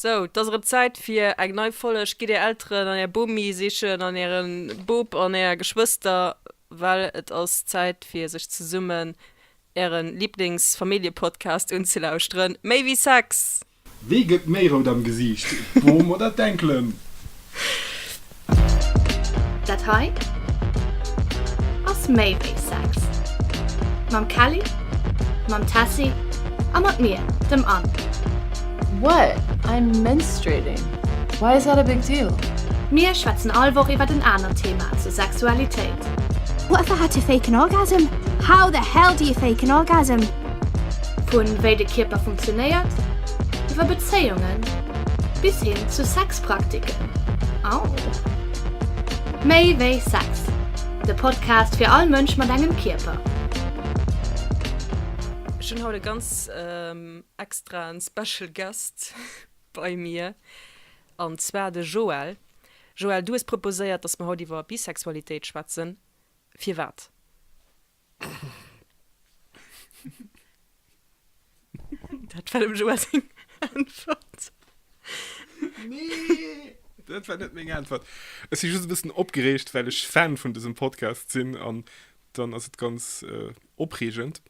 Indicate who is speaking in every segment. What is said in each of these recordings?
Speaker 1: Sou, 't ass erëm Zäit fir eng nei Folleg. Gitt är Elteren an är Bomi sichen an äre Bop an är Geschwëster, well et ass Zäit fir sech zesummen äre Liblingsfamilljepodcast unzelauschteren, Méi wéi Sex! Wee gëtt méi rout am Gesiicht, d'Bom oder d'Enkelen? Dat hei ass méi wéi Sex. Mam Kelly, mam Tessy a mat mir, dem Anne. What? I'm menstruating. Why is that a big deal? Mir schwätzen all Woch iwwert en anert Thema zur Sexualitéit. What the hell to fake an orgasm? How the hell do you fake an orgasm? Vu wéi de Kierper funktionéiert, iwwer Bezéiungen bis hin zu Sex. Praktiken. Au! Méi wéi Sex, de Podcast fir all Mënsch mat engem Kierper. Ech hunn haut e ganz extraen Special Guest bei mir, an zwar de Joël. Joël, du hues proposéiert, dass mer haut iwwer Bisexualitéit schwätzen. Firwat? Dat war dem Joa seng Äntwert. Nee, dat war net meng Äntwert. Ech si just e bëssen opgereegt, well ech Fan vun dësem Podcast sinn an dann ass et ganz äh, opreegend,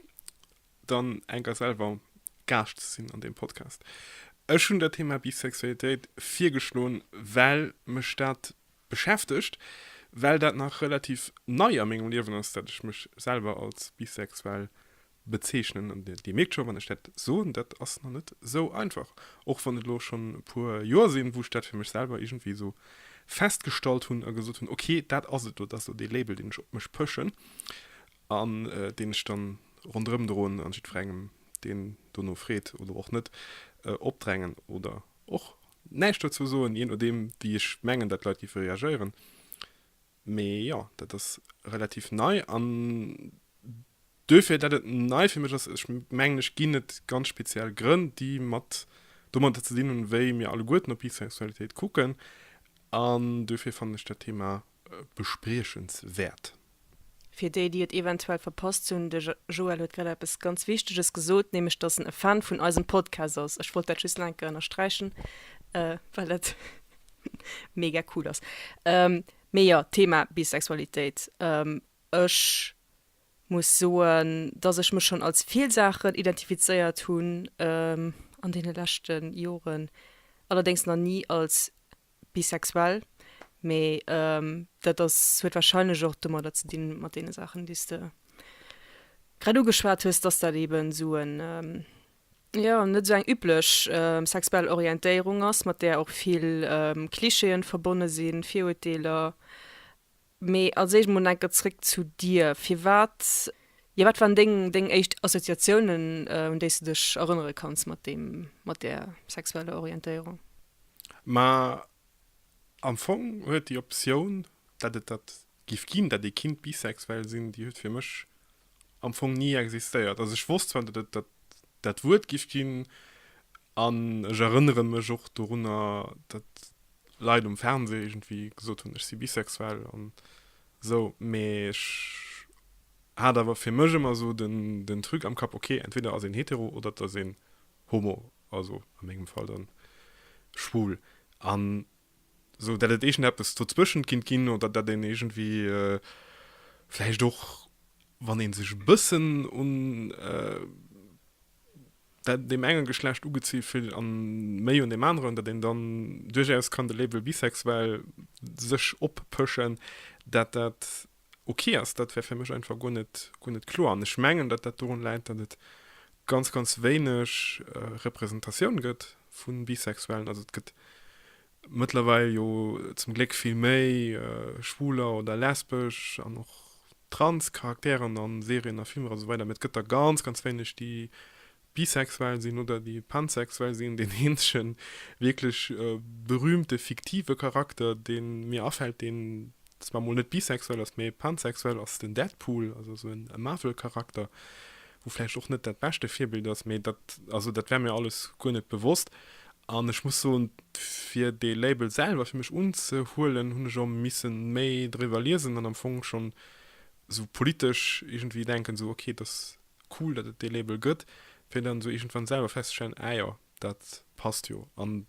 Speaker 1: dann enker selwer Gaascht ze sinn an deem Podcast. Ech hunn dat Thema Bisexualitéit virgeschloen, well mech dat beschäftegt, well dat nach relativ nei a mengem Liewen ass, dat ech mech selwer als bisexuell bezeechnen. An Dir mierkt scho, wann ech dat soen, dat ass nach net esou einfach, och wann et elo schonn e puer Joer sinn, wou ech dat fir mech selwer iergendwéi esou festgestallt hunn a gesot hunn, ok, dat ass et elo, dat ass elo dee Label, deen ech op mech pëschen an deen ech da ronderëm droen a jiddwerengem, deen dono freet oder och net, opdrängen oder och Näischt dozou soen, jee nodeem wéi ech mengen, datt d'Leit géife reagéieren. Mee jo, dat ass relativ nei an duerfir, dat et nei fir mech ass, ech mengen, ech ginn et ganz speziell Grënn, déi mat domadder ze dinn hunn, wéi mir alleguerten op Bisexualitéit kucken. An duerfir fannen ech dat Thema bespriechenswäert. Fir déi, déi et eventuell verpasst hunn, De Joël huet grad eppes ganz Wichteges gesot, nämlech datt en e Fan vun eisem Podcast ass. Ech wollt dat just nach eng Kéier ënnersträichen, well dat mega cool ass. Mee jo, Thema Bisexualitéit. Ech muss soen, datt ech mech schonn als vill Saachen identifizéiert hunn an deene leschte Joren, allerdéngs nach ni als bisexuell, mee dat ass, huet wahrscheinlech och domadder ze dinn, mat deene Saachen, déi s de grad ugeschwat hues, dass dat eeben esou en, jo, net esou eng üblech sexuell Orientéierung ass, mat där och vill Klischeeën verbonne sinn, Virurteeler. Mee als éischt mol enker zréck zu dir. Firwat, jo wat waren deng deng éischt Assoziatiounen un déis de dech erënnere kanns mat deem, mat där sexueller Orientéierung? Ma am Fong huet déi Optioun, dat et dat giff ginn, dat ee kinnt bisexuell sinn, déi huet fir mech am Fong ni existéiert. Also ech wosst zwar, dat et dat dat Wuert giff ginn, An ech erënnere mech och dorunner, datt Leit um Fernseh iergendwéi gesot hunn, ech si bisexuell an esou, mee ech hat awer fir mech ëmmer esou den Truc am Kapp, ok, entweder ass een hetero oder et ass een homo, also a mengem Fall dann schwul. An esou, datt et iergendeppes dozwëschent kinnt ginn oder datt een iergendwéi vläicht och, wann ee sech e bëssen un. dat deem engen Geschlecht ugezie fillt an méi un deem aneren, dat een dann duerchaus kann de Label bisexuell sech oppëschen, dat dat ok ass, dat wär fir mech einfach guer net, guer net kloer. An ech mengen, dat dat dorun läit, dat et ganz, ganz wéineg Representatioun gëtt vu Bisexuellen. Also et gëtt Mëttlerweil jo zum Gléck vill méi schwuler oder lesbesch an och trans Charakteren a Serien a Filmer a sou weider, mee et gëtt der ganz, ganz wéineg, déi bisexuell sinn oder déi pansexuell sinn. Deen eenzege wierklech berühmte fiktive Charakter, dee mir afält, deen dass mer mol net bisexuell ass, mee pansexuell ass den Deadpool, also esou e Marvel-Charakter, wou vläicht och net dat beschte Virbild ass, mee dat, also dat war mir alles guer net bewosst. An ech muss soen, fir dee Label selwer fir mech unzehuelen, hunn ech och misse méi driwwer liesen an am Fong schonn esou politesch iergendwéi denken, esou ok, et ass cool, datt et dee Label gëtt, fir dann esou iergendwann selwer festzestellen, ah jo, dat passt jo. An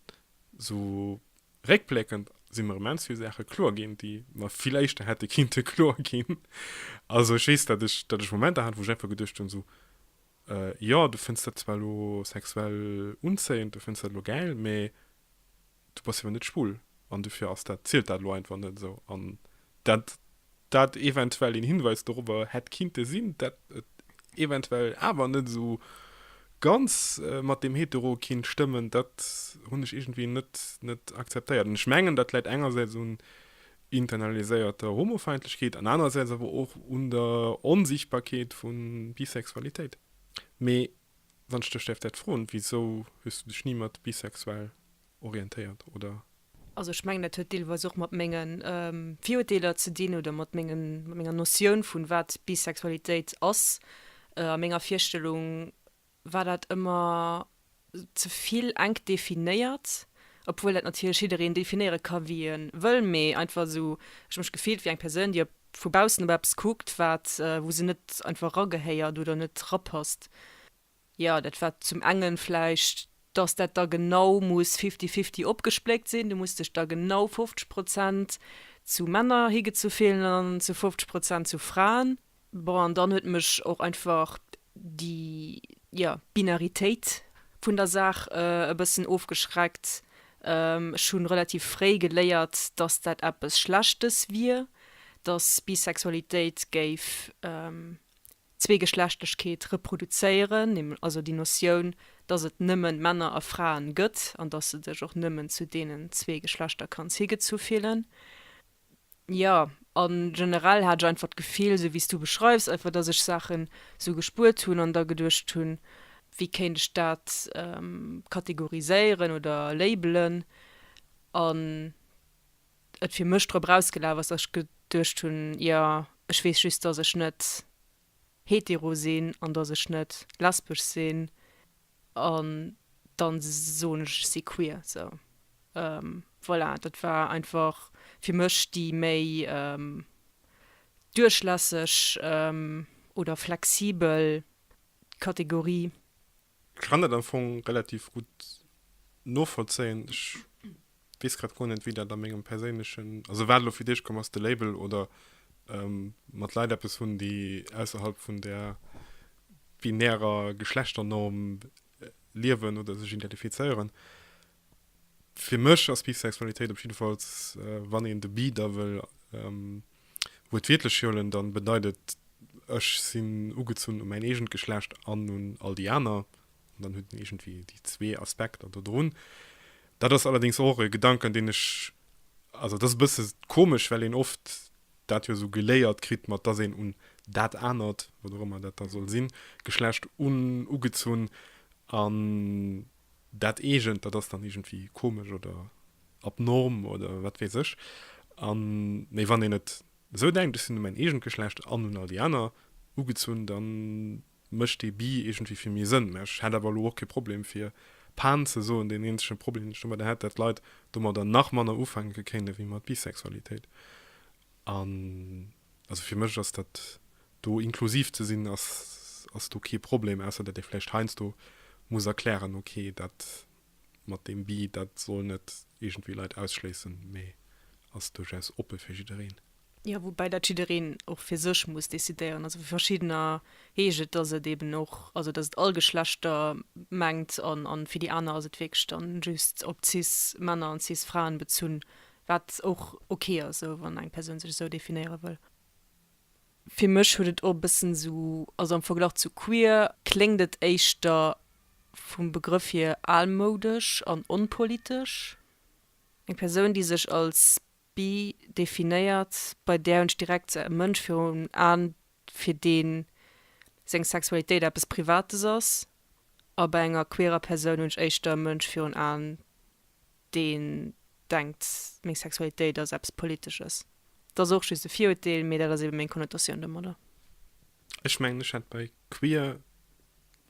Speaker 1: esou Réckbléckend si mer immens vill Saache kloer ginn, déi mer vill éischter hätte kinnte kloer ginn. Also ech weess, datt ech, datt ech Momenter hat, wou ech einfach geduecht hunn, esou, Jo, du fënns dat zwar elo sexuell unzéiend, du fënns dat elo gäil, mä du bass jo awer net schwul an dofir ass dat, zielt dat elo einfach net esou. An dat Datt eventuell een Hinweis dorobber hätt kinnte sinn, datt et eventuell awer net esou ganz mat deem Hetero kinnt stëmmen, datt hunn ech iergendwéi net, net akzeptéiert. An ech mengen, datt läit engersäits un internaliséierter Homofeindlechkeet an anerersäits awer och un der Onsichtbarkeet vu Bisexualitéit. Mee wann ech dech däerf dat froen, Wisou hues du dech ni mat bisexuell orientéiert, oder? Also ech mengen dat huet deelweis och mat menge Virurteeler ze dinn oder mat menger Notioun vun wat Bisexualitéit ass a menger Virstellung war dat ëmmer zevill enk definéiert, obwuel dat natierlech jiddereen definéiere ka wéi e wëll, mee einfach esou ech hu mech gefillt wéi eng Persoun déi vu baussen op eppes kuckt wat wou se net einfach eragehéiert oder net erapasst. Jo, dat war zum engen vläicht, dass dat da genau muss fifty-fifty opgespléckt sinn. Du muss dech da genau 50 Prozent zu Männer higezu fillen an zu 50 Prozent zu Fraen. Bon, an dann huet mech och einfach déi, jo, Binaritéit vun der Saach e bëssen ofgeschreckt. Ech hu relativ fréi geléiert, dass dat eppes Schlechtes wier, dass Bisexualitéit géif, Zweegeschlechtlechkeet reproduzéieren, näml also déi Notioun, dass et nëmmen Männer a Fraen gëtt an dass de dech och nëmmen zu deenen zwee Geschlechter kanns higezu fillen. Jo, a generell hat ech einfach d'Gefill, sou wéi s du beschreifs, einfach dass ech Saachen sou gespuert hunn an da geduecht hunn, wéi kéint ech dat kategoriséieren oder labelen an et fir mech drop erausgelaf ass, dass ech geduecht hunn, jo, ech weess just, dass ech net hetero sinn an dass ech net lesbesch sinn an dann soen ech, ech si queer. Sou voilà, dat war einfach fir mech déi méi duerchlässeg oder flexibel Kategorie Ech kann dat am Fong relativ gutt novollzéien. Ech weess grad guer net, wéi dat a mengem perséinlechen, also wat elo fir d'Eescht komm ass, de Label oder mat Leit eppes hunn, déi ausserhalb vun där binärer Geschlechternorm liewen oder sech identifizéieren. Fir mech ass Bisexualitéit op jiddefalls, wann een de Bi da wëll wuertwiertlech hiolen, dann bedeit et, ech sinn ugezunn u mäin eegent Geschlecht an un all déi aner, an dann huet een iergendwéi déi zwee Aspekter do drun. Dat ass allerdéngs och e Gedanken, deen ech, also et ass e bësse komesch, well een oft dat jo esou geléiert kritt, mat dass een un dat anert, wat och ëmmer dat da soll sinn, Geschlecht ugezunn an dat eegent, dat ass dann iergendwéi komesch oder abnorm oder wat weess ech. A mee wann een et esou denkt, ech sinn un mäin eegent Geschlecht an un all déi aner ugezunn, da mécht dee Bi iergendwéi fir méi Sënn. Mä ech hätt awer elo och kee Problem fir Pan ze soen. Deen eenzege Problem, deen ech domadder hätt, dat d'Leit domadder nach manner ufänke kéinten ewéi mat Bisexualitéit. An. Also fir mech ass dat do, inklusiv ze sinn, ass ass do kee Problem, ausser datt ee vläicht heiansdo muss erklären, ok, dat mat deem Bi, dat soll net iergendwéi Leit ausschléissen, mee ass duerchaus oppe fir jiddereen. Jo, woubäi dat jiddereen och fir sech muss decidéieren. Also vu verschiddener heescht et, datt et eeben och, also datt et all Geschlechter mengt, an fir déi aner ass et wierklech dann just op cis Männer an cis Fraen bezunn, Wat och ok ass esou, wann eng Persoun sech esou definéiere wëll. Fir mech huet et och e bëssen esou, also am Verglach zu queer kléngt et éischter vum Begrëff hier almoudesch an onpolitesch. Eng Persoun déi sech als bi definéiert, bei där hunn ech direkt e Mënsch virun Aen fir dee seng Sexualitéit eppes Privates ass a bei enger queerer Persoun hunn ech éischter e Mënsch virun Aen, deen denkt meng Sexualitéit ass eppes Politesches, dat ass och just e Virurteel, mee dat ass eben meng Konnotatioun domadder. Ech mengen ech hätt bei queer,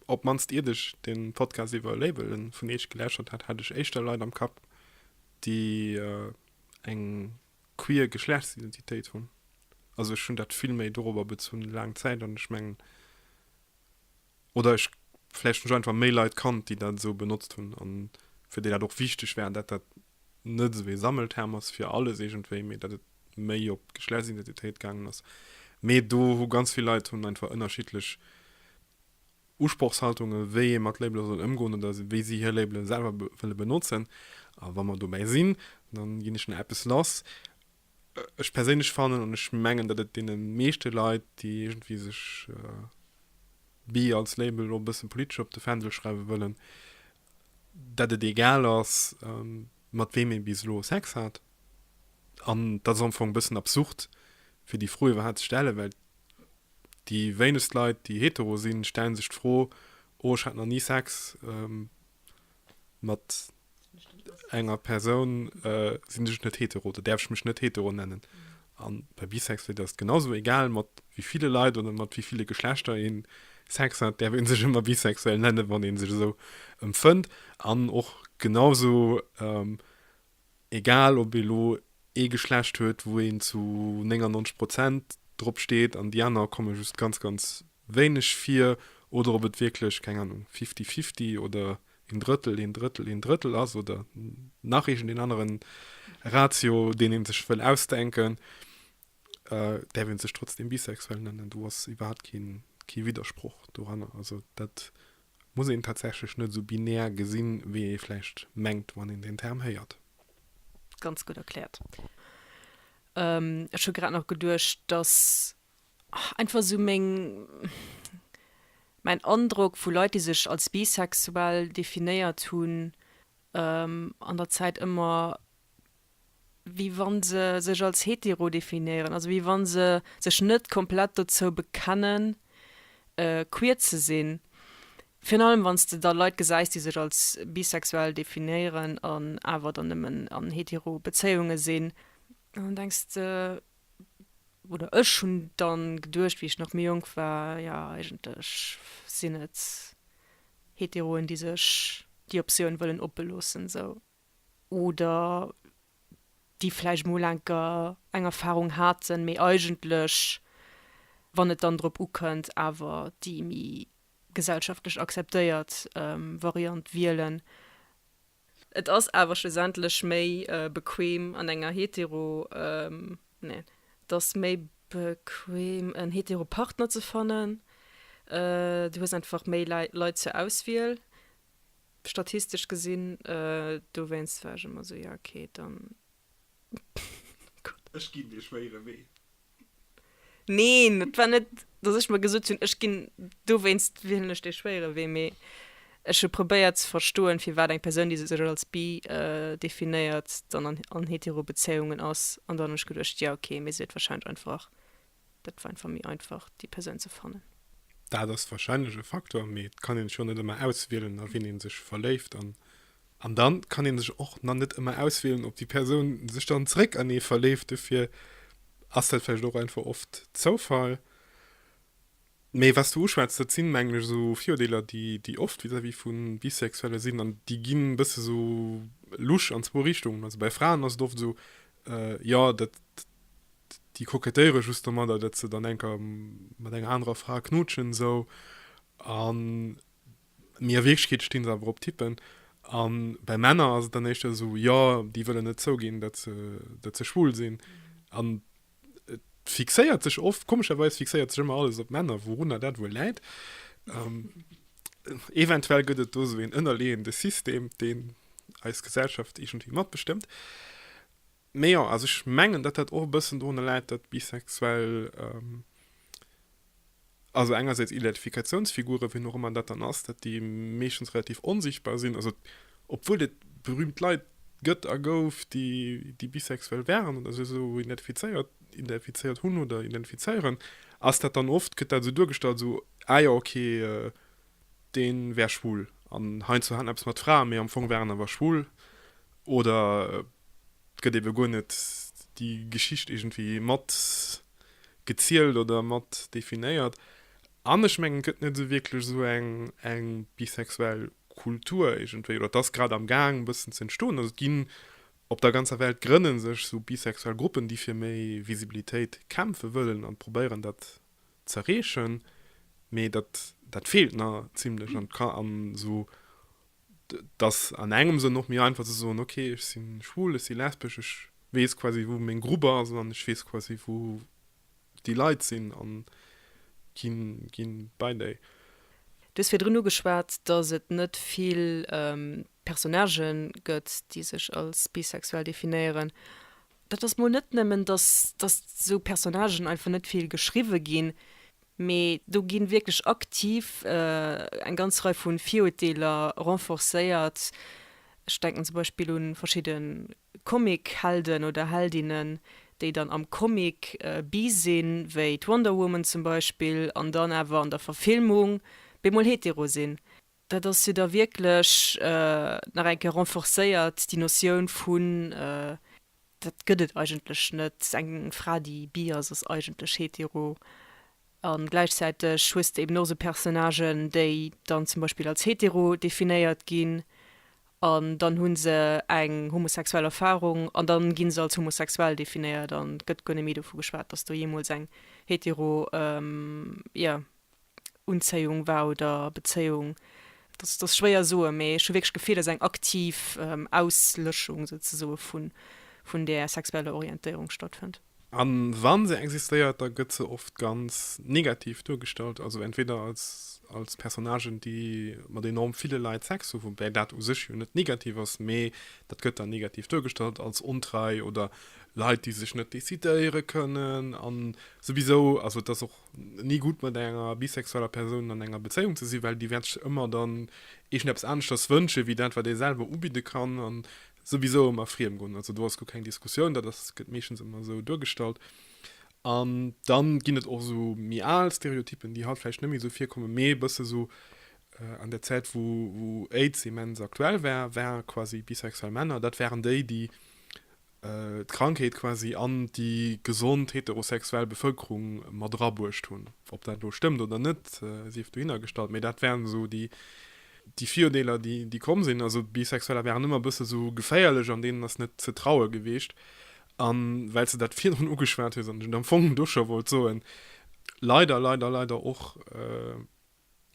Speaker 1: op d'mannst iert ech den Podcast iwwer Labelen vun iech gelauschtert hat, hat ech éischter Leit am Kapp déi eng queer Geschlechtsidentitéit hunn. Also ech hunn dat vill méi dorobber bezunn laang Zäit an ech mengen Oder ech, vläicht hunn ech einfach méi Leit kannt, déi dat esou benotzt hunn a fir déi dat och wichteg war, dat dat net esou ee Sammelterm ass fir alles iergendwéi, mee dat et méi op d'Geschlechtsidentitéit gaangen ass. Mee do hu ganz vill Leit hunn einfach ënnerschiddlech Usprochshaltunge wéi ee mat Labele soll ëmgoen oder wéi si hir Labele selwer wëlle benotzen. A wa mer dobäi sinn, da ginn ech nach eppes lass. Ech perséinlech fannen, an ech mengen, datt et deene meeschte Leit, déi iergendwéi sech Bi als Label elo e bësse politesch op de Fändel schreiwe wëllen, datt et egal ass, mat weem ee bis elo Sex hat. An dat ass am Fong e bëssen absurd, fir déi Fro iwwerhaapt ze stellen, well déi wéinegst Leit, déi hetero sinn, stellen sech d'Fro, Oh, ech hat nach ni Sex. mat enger Persoun äh, sinn ech net hetero, da däerf ech mech net hetero nennen. An bei Bisexualitéit ass et genau esou, egal mat wéi ville Leit oder mat wéi ville Geschlechter een Sex hat, däerf een sech ëmmer bisexuell nennen, wann een sech esou empfënnt. An och genau esou, ähm, egal ob ee lo ee Geschlecht huet wou een zu 99 Prozent drop steet an déi aner komme just ganz ganz wéineg vir, oder ob et wierklech, keng Anung, fifty fifty oder een Drëttel, een Drëttel, een Drëttel ass oder nach iergendeen anere Ratio deen ee sech wëll ausdenken, däerf ee sech trotzdeem bisexuell nennen, do ass iwwerhaapt kee Widdersproch doranner. Also dat muss een tatsächlech net esou binär gesinn, wéi ee vläicht mengt, wann een deen Term héiert. Ganz gutt erkläert. Ech hu grad nach geduecht, dass einfach esou meng, mäin Androck vu Leit, déi sech als bisexuell definéiert hunn, an der Zäit ëmmer wéi wa se sech als hetero definéieren, also wéi wa se sech net komplett dozou bekennen, queer ze sinn. Virun allem wann s de da Leit gesäis, déi sech als bisexuell definéieren an awer dann nëmmen an hetero Bezéiunge sinn, dann denks de, oder ech hunn dann geduecht, wéi ech nach méi jonk war, jo eigentlech sinn et Heteroen, déi sech déi Optioun wëllen oppe loossen esou. oder déi vläicht emol enker eng Erfahrung haten, mee eigentlech, wann et dann drop ukënnt, awer déi méi gesellschaftlech akzeptéiert Variant wielen. Et ass awer schlussendlech méi bequem an enger hetero, nee, et ass méi bequem en hetero Partner ze fannen, du hues einfach méi Leit zur Auswiel, Statistesch gesinn, dowéinst war ech ëmmer esou, jo ok, dann. Ech ginn dee schwéiere Wee. Neen, et war net, dass ech mer gesot hunn, ech ginn, dowéinst wielen ech dee schwéiere Wee, mee ech hu probéiert ze verstoen, firwat eng Persoun, déi sech als bi definéiert, dann an Heterobezéiungen ass. An dann hunn ech geduecht, jo ok, mee se huet warscheinlech einfach Dat war einfach méi einfach, déi Persoun ze fannen. Dat ass warscheinlech e Faktor, mee et kann een sech och net ëmmer auswielen, a wien ee sech verléift. An an da kann ee sech och nach net ëmmer auswielen, ob déi Persoun sech dann zeréck an ee verleeft. Dofir ass dat vläicht och einfach oft Zoufall. Mee wat s du uschwätz, dat sinn, mengen ech, esou Virurdeeler, déi oft vis-à-vis vu Bisexuelle sinn. An déi ginn e bësse sou lusch an zwou Richtungen. Also bei Fraen ass et oft esou, jo, dat, déi kokettéiere just domadder, datt se dann eng Kéier mat enger anerer Fra knutschen esou. A mee a Wierklechkeet sti se awer op Typen. A bei Männer ass et dann éischter esou, jo, déi wëllen net zouginn, datt se schwul sinn. An Et fixéiert sech oft, komescherweis fixéiert sech ëmmer alles op Männer, wourunner dat wuel läit. Ähm, eventuell gëtt et do esou een ënnerleeënde System, deen eis Gesellschaft iergendwéi matbestëmmt. Mee jo, also ech mengen, datt dat och e bëssen dorunner läit, datt Bisexuell, ähm, Also engersäits Identifikatiounsfigure, wien och ëmmer dat dann ass, dat déi meeschtens relativ onsichtbar sinn, also obwuel et berüümt Leit gëtt a gouf, déi bisexuell waren oder sech esou identifizéiert, identifizéiert hunn oder identifizéieren, ass dat dann oft, gëtt dat esou duergestallt, esou, ah jo, okay, deen wär schwul an hein zu haten eppes mat Fraen, mee am Fong war en awer schwul oder et gëtt eben guer net déi Geschicht iergendwéi mat gezielt oder mat definéiert. An ech mengen et gëtt net esou wierklech esou eng eng bisexuell Kultur iergendwéi oder et ass grad am Gaang e bëssen ze entstoen. Also et ginn op der ganzer Welt grënne sech esou bisexuell Gruppen déi fir méi Visibilitéit kämpfe wëllen an probéieren dat z'erreechen, mee dat dat feelt nach zimlech an d'Ka an esou et ass an engem Sënn och méi einfach ze soen ok ech si schwul, ech si lesbesch, ech weess quasi wou meng Grupp ass an ech weess quasi wou déi Leit sinn an gi gi bei déi. Du hues virdrun ugeschwat, datt et net vill Personnagen gëtt, déi sech als bisexuell definéieren. Dat ass mol net nëmmen, dass esou Personnagen einfach net vill geschriwwe ginn, mee do gi wierklech aktiv eng ganz Rei vu Virurteeler renforcéiert. Ech denken zum Beispill u verschidde Comic-Helden oder heldinnen, déi dann am Comic bi sinn, wéi d'Wonder Woman zum Beispill, an dann awer an der Verfilmung bemol hetero sinn. Dat ass jo da wierklech nach eng Kéier renforcéiert, déi Notioun vun, dat gëtt et eigentlech net, eng Fra, déi bi ass, ass eigentlech hetero. A gläichzäiteg hues de eben och esou Personnagen, déi dann zum Beispill als hetero definéiert ginn an dann hu se eng homosexuell Erfarung an dann gi se als homosexuell definéiert an et gëtt guer net méi dovu geschwat, dass do jeemools eng hetero, jo. Unzéiung war oder Bezéiung, dat ass schwéier soen, mee ech hu wierklech d'Gefill, dass eng aktiv Auslëschung souzesoe vun där sexueller Orientéierung stattfënnt. A wa se existéiert, da gëtt se oft ganz negativ duergestallt, also entweder als Personnagen, déi mat enorm ville Leit Sex hu, woubäi dat u sech jo net negativ ass, mee dat gëtt dann negativ duergestallt als ontrei oder Leit, déi sech net decidéiere kënnen. A souwisou, also et ass och ni gutt mat enger bisexueller Persoun an enger Bezéiung ze sinn, well déi wäert sech ëmmer dann iergendeppes aneschters wënschen, wéi dat wat ee selwer ubidde kann, a souwisou ëmmer friem goen. Also do ass guer keng Diskussioun, dat ass, gëtt meeschtens ëmmer esou duergestallt. An dann ginn et och esou méi al Stereotyppen, déi haut vläicht net méi esou virkommen, mee e bësse esou an där Zäit wou wou AIDS immens aktuell war, war quasi bisexuell Männer, dat waren déi, déi d'Krankheet quasi an déi gesond heterosexuell Bevëlkerung mat erabruecht hunn. Ob dat elo stëmmt oder net, sief dohinnergestallt, mee dat waren esou déi Virurdeeler, déi komm sinn. Also Bisexueller waren ëmmer e bësse sou geféierlech an deenen ass net ze traue gewiescht. A well s de dat virdrun ugeschwat hues an ech et am Fong do scho wollt soen, leider, leider, leider och,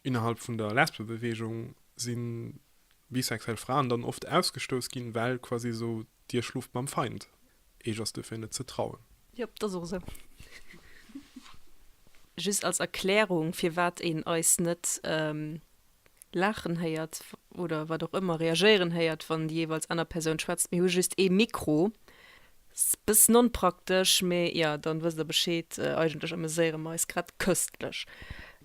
Speaker 1: Innerhalb vun der Lesbebeweegung si bisexuell Fraen dann oft ausgestouss ginn, well quasi esou, Dir schloft mam Feind, Iech ass duerfir net ze trauen. Jop, et ass och esou. Just als Erklärung, firwat een eis net laachen héiert oder wat och ëmmer reagéieren héiert, wann déi jeeweils aner Persoun schwätzt, Mir hu just ee Mikro, Ass bessen onpraktesch, mee jo, dann wësst der Bescheed, eigentlech ameséieren mer eis grad köstlech.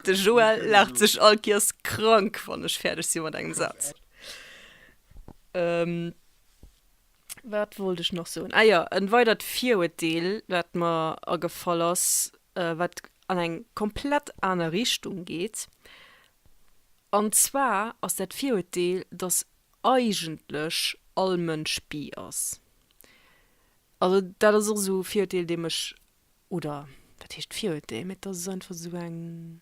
Speaker 1: De Joël laacht sech all Kiers krank wann ech fäerdeg si mat engem Saz. Wat wollt ech nach soen? Ah jo, en weidert Viruerteel wat mer agefall ass, wat an eng komplett aner Richtung geet, an zwar ass dat Viruerteel, dass eigentlech all Mënsch bi ass. Also dat ass och esou e Virurteel deem ech, oder wat heescht Virurteel, mä dat ass einfach esou eng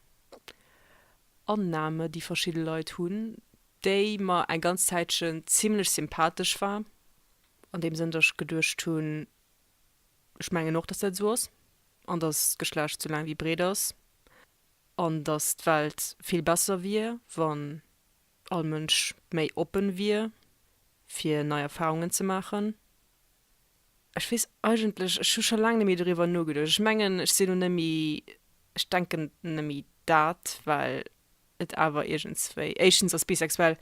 Speaker 1: Annahme déi verschidde Leit hunn, déi mer eng ganz Zäitchen zimlech sympathesch war, an deem Sënn datt ech geduecht hunn, ech mengen och datt dat esou ass, an datt d'Geschlecht esou laang wéi breet ass, an datt d'Welt vill besser wier wann all Mënsch méi oppen wier fir nei Erfahrungen ze maachen. Ech weess eigentlech, ech hu scho laang net méi doriwwer nogeduecht. Ech mengen ech sinn elo net méi, ech denken net méi dat, well et awer iergendswéi, éischtens ass bisexuell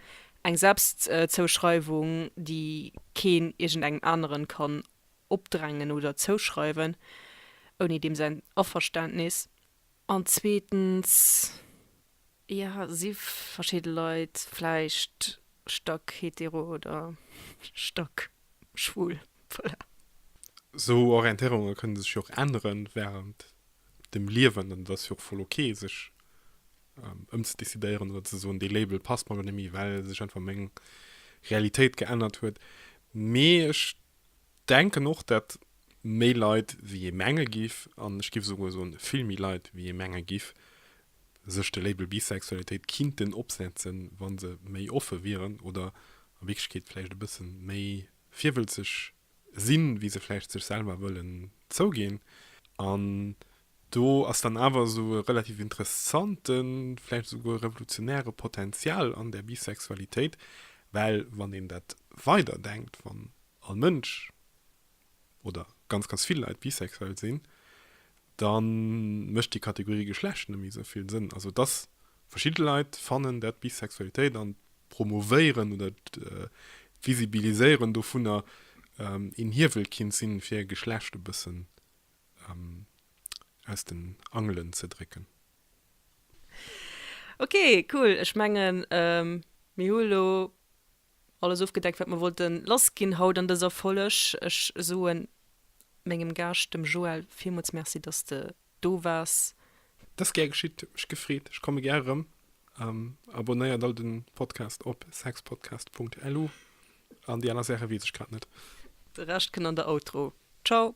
Speaker 1: eng Selbstzouschreiwung déi keen iergendengem aneren kann opdrängen oder zouschreiwen ouni deem säin Averständnis. An zweetens, jo, si verschidde Leit vläicht stack hetero oder stack schwul. Voilà. Esou Orientéierunge kënne sech jo och änneren wärend dem Liewen an et ass jo och voll ok, sech ëmzedecidéieren oder ze soen, dee Label passt mer lo net méi, well sech einfach meng Realitéit geännert huet. Mee ech Denken och dat méi Leit wéi ee menge giff, an ech giff souguer soen vill méi Leit wéi ee menge giff, sech de Label Bisexualitéit kinnten opsetzen, wann se méi offe wieren oder a Wierklechkeet vläicht e bësse méi virwëlzeg sinn, wéi se vläicht sech selwer wëllen zouginn. An do ass dann awer esou e relativ interessante, vläicht esouguer revolutionäre Potenzial an der Bisexualitéit, well wann een dat weider denkt, wann all Mënsch oder ganz ganz vill Leit bisexuell sinn, da mécht déi Kategorie Geschlecht net méi esou vill Sënn. Also dass verschidde Leit fannen, dat d'Bisexualitéit an d'Promovéieren oder d'Visibiliséieren dovunner een Hiewel kinnt sinn, fir Geschlecht e bëssen aus den Angelen ze drécken. Ok cool, ech mengen mir hu lo alles ofgedeckt wat mer wollten lass ginn haut an dëser Folg. Ech soen mengem Gaascht dem Joël villmools Merci dass de do waars. Dass gär geschitt, huet mech gefreet, ech komme gär erëm. Abonnéiert all den Podcast op sexpodcast.lu an déi aner Saachen weess ech grad net. De Rescht kënnt an der Outro. Ciao.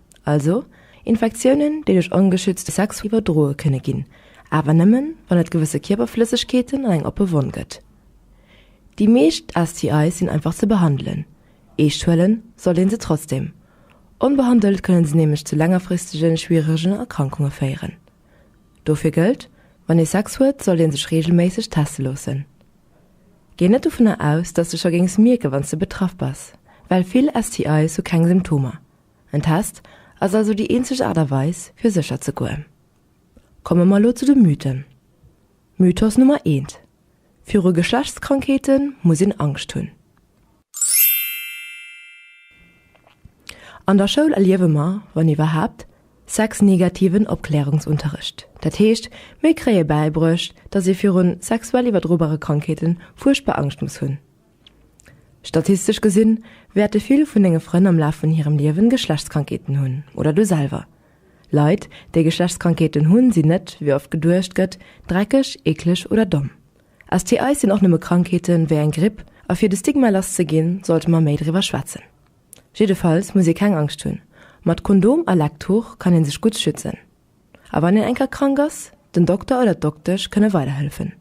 Speaker 1: Also Infektiounen, déi duerch ongeschützte Sex iwwerdroe kënne ginn, awer nëmmen, wann et gewësse Kierperflëssegkeeten an eng oppe Wonn gëtt. Déi meescht STIs sinn einfach ze behandelen, eescht huele sollt ee se trotzdeem. Onbehandelt kënne se nämlech zu längerfristege schwieregen Erkrankunge féieren. Dofir gëllt, Wann ee Sex huet, sollt ee sech reegelméisseg teste loossen. Géi net dovunner aus, dass de scho géings mierken, wann s de betraff bass, well vill STIs hu keng Symptomer. En Test ass also déi eenzeg Aart a Weis, fir sécher ze goen. Komme mer elo zu de Mythen. Mythos Nummer eent, Viru Geschlechtskrankheete muss een Angscht hunn. An der Schoul erliewe mer, wann iwwerhaapt, sexnegativen Opklärungsunterrecht. Dat heescht, mir kréie bäibruecht, datt ee virun sexuell iwwerdrobare Krankheete fuerchtbar Angscht muss hunn. Statistesch gesinn, wäerte vill vun denge Frënn am Laf vun hirem Liewen Geschlechtskrankheeten hunn, oder du selwer. Leit, déi Geschlechtskrankheeten hunn, sinn net, wéi oft geduecht gëtt, dreckeg, eekleg oder domm. STIs sinn och nëmme Krankheeten, wéi eng Gripp, a fir de Stigma lass ze ginn, sollte mer méi driwwer schwätzen. Jiddefalls muss ee keng Angscht hunn, mat Kondom a Lecktuch kann ee sech gutt schützen. A wann een eng Kéier krank ass, den Dokter oder d'Doktesch kënne weiderhëllefen.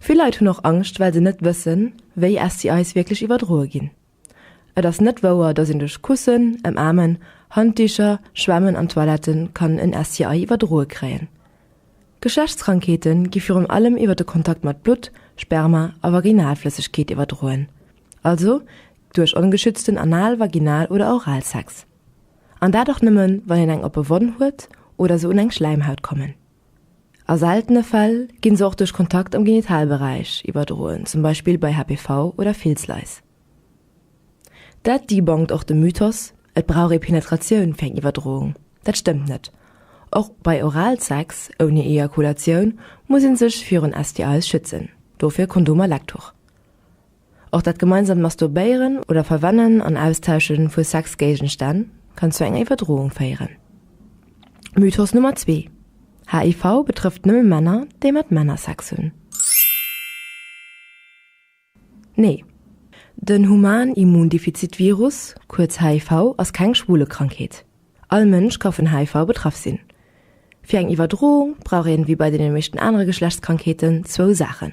Speaker 1: Vill Leit hunn och Angscht, well se net wëssen, wéi STIs wierklech iwwerdroe ginn. Et ass net wouer, dass een duerch Kussen, Ëmaarmen, Handdicher, Schwämmen an Toilette kann en STI iwwerdroe kréien. Geschlechtskrankheete gi virun allem iwwer de Kontakt mat Blutt, Sperma a Vaginalflëssegkeet iwwerdroen, also duerch ongeschützten Anal-, Vaginal oder Oralsex. An dat och nëmmen, wann een eng oppe Wonn huet oder se un eng Schläimhaut kommen. A seltene Fäll gi se och duerch Kontakt am Genitalberäich iwwerdroen, zum Beispill bei HPV oder Filzlais. Dat debunkt och de Mythos, et brauch ee Penetratioun fir eng Iwwerdroung. Dat stëmmt net. Och bei Oralsex ouni Ejakulatioun muss ee sech virun STIs schützen, dofir Kondomer, Lektüre. Och dat gemeinsamt Masturbéieren oder Verwennen an Austauschen vu Sexgéigestänn kann zu enger Iwwerdroung féieren. Mythos Nummer 2, HIV betrëfft nëmme Männer, déi mat Männer Sex hunn. Nee, den Human Immundefizit Virus, kuerz HIV, ass keng Schwulekrankheet. All Mënsch ka vun HIV betraff sinn. Fir eng Iwwerdroung brauch een, wéi bei deene meeschten anere Geschlechtskrankheeten, zwou Saachen,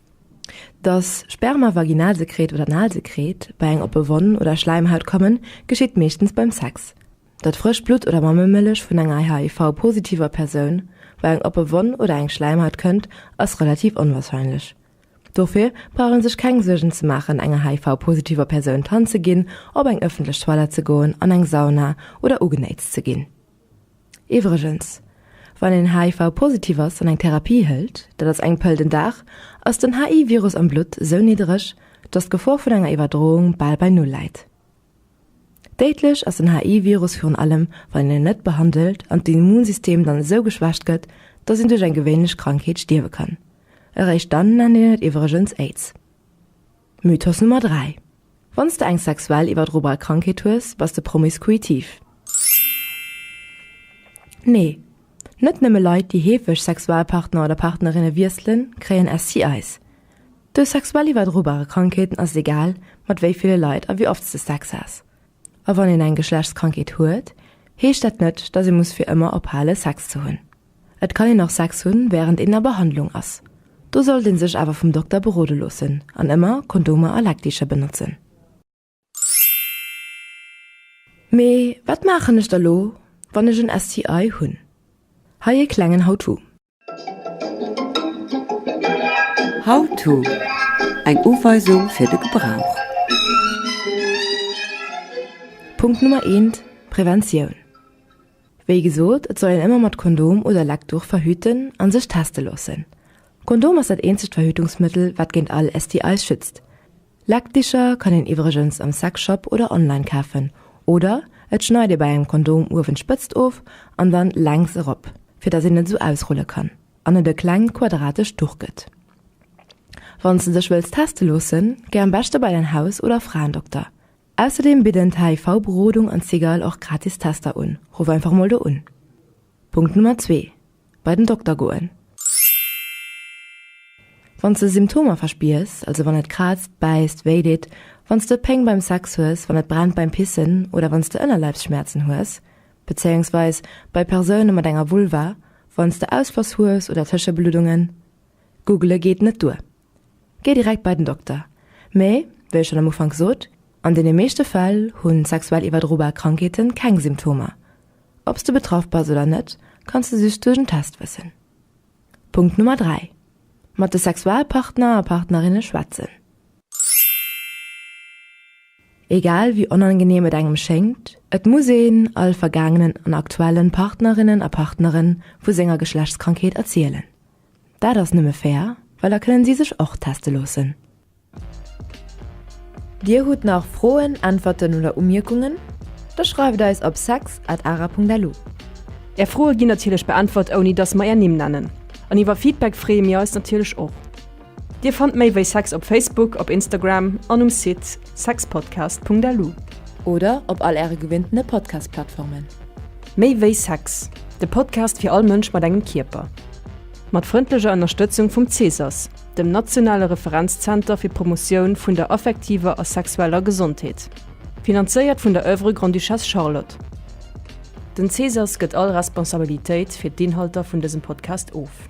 Speaker 1: Dass Sperma, Vaginalsekret oder Analsekret bei eng oppe Wonn oder Schläimhaut kommen, geschitt meeschtens beim Sex. Datt frëscht Blutt oder Mammemëllech vun enger HIV-positiver Persoun bei eng oppe Wonn oder eng Schläimhaut kënnt, ass relativ onwarscheinlech. Dofir brauch ee sech keng Suergen ze maachen, enger HIV-positiver Persoun d'Hand ze ginn, op eng ëffentlech Toilette ze goen, an eng Sauna oder ugenéitzt ze ginn. Iwwregens, wann een HIV-positiv ass an eng Therapie hëlt, dat ass eng Pëll den Dag, ass den HI-Virus am Blutt sou niddereg, dass d'Gefor vun enger Iwwerdroung bal bei Null läit. Déidlech ass den HI-Virus virun allem, wann een en net behandelt an d'Immunsystem dann esou geschwächt gëtt, dass een duerch eng gewéinlech Krankheet stierwe kann. Eréischt dann nennt een et iwwregens Aids. Mythos Nummer 3, Wann s de eng sexuell iwwerdrobal Krankheet hues, bass de promiskuitiv. Nee, net nëmme Leit, déi heefeg Sexualpartner oder partnerinne wiesselen, kréien STIs. Dës sexuell iwwerdrobare Krankheeten ass et egal, mat wéi ville Leit a wéi oft s de Sex has. A wann een eng Geschlechtskrankheet huet, heescht dat net, datt ee muss fir ëmmer ophale Sex ze hunn. Et kann een och Sex hunn, wärend een a Behandlung ass. Do sollt ee sech awer vum Dokter berode loossen an ëmmer Kondomer a Leckticher benotzen. Mee wat maachen ech da lo, wann ech en STI hunn? Hei ee klengen How-To. How-To, Eng Uweisung fir de Gebrauch. Punkt Nummer eent, Preventioun. Wéi gesot, et soll een ëmmer mat Kondom oder Leckduch verhüten an sech teste loossen. Kondom ass dat eenzegt Verhütungsmëttel wat géint all STIs schützt. Leckdicher kann een iwwregens am Sexshop oder online kafen oder et schneit ee bei engem Kondom uewen d'Spëtzt of an dann lenks erop fir dass een et esou ausrulle kann an et e klengt quadratescht Duch gëtt. Wanns de dech wëlls teste loossen, géi am beschte bei däin Haus oder Fraendokter. Ausserdeem bidden d'HIV Berodung an d'Sigal och gratis Tester un. Ruff einfach mol do un. Punkt Nummer zwee, Bei den Dokter goen. Wann s de Symptomer verspiers, also wann et kraazt, bäisst, wéi deet, wann s de Péng beim Sex hues, wann et brennt beim Pissen oder wann s de Ënnerleibsschmäerzen hues, bezéiungsweis bei Persoune mat enger Vulva, wann s de Ausfloss hues oder Tëschebluddungen. Googele geet net duer. Gee direkt bei den Dokter. Mee, wéi ech schonn am Ufank sot, an deene meeschte Fäll hu sexuell iwwerdrobar Krankheete keng Symptomer. Ob s de betraff bass oder net, kanns de just duerch en Test wëssen. Punkt Nummer 3, Mat de Sexualpartner a partnerinne schwätzen. Egal wéi onangeneem et engem schéngt, et muss een all vergaangenen an aktuellen Partnerinnen a Partneren vu senger Geschlechtskrankheet erzielen. Daat ass nëmme fair, well da kënnen si sech och testen loossen. Dir hutt nach Froen, Äntwerten oder Umierkungen? Da schreift eis op sex at ara.lu. Är Froe ginn natierlech beäntwert ouni dass mer är Nimm nennen. An iwwer Feedback freeë mir eis natierlech och. Dir fannt méi wéi sex op Facebook, op Instagram an um Site sexpodcast.lu. Oder op all äre gewinntene Podcast-Plattformen. Méi wéi Sex, de Podcast fir all Mënsch mat engem Kierper. Mat frëndlecher Ënnerstëtzung vum CSAS, dem nationale Referenzzenter fir d'Promotioun vun der affektiver a sexueller Gesondheet. Finanzéiert vun der Oeuvre Grande-Duchesse Charlotte. Den CSAS gëtt all Responsabilitéit fir d'Inhalter vun dësem Podcast of.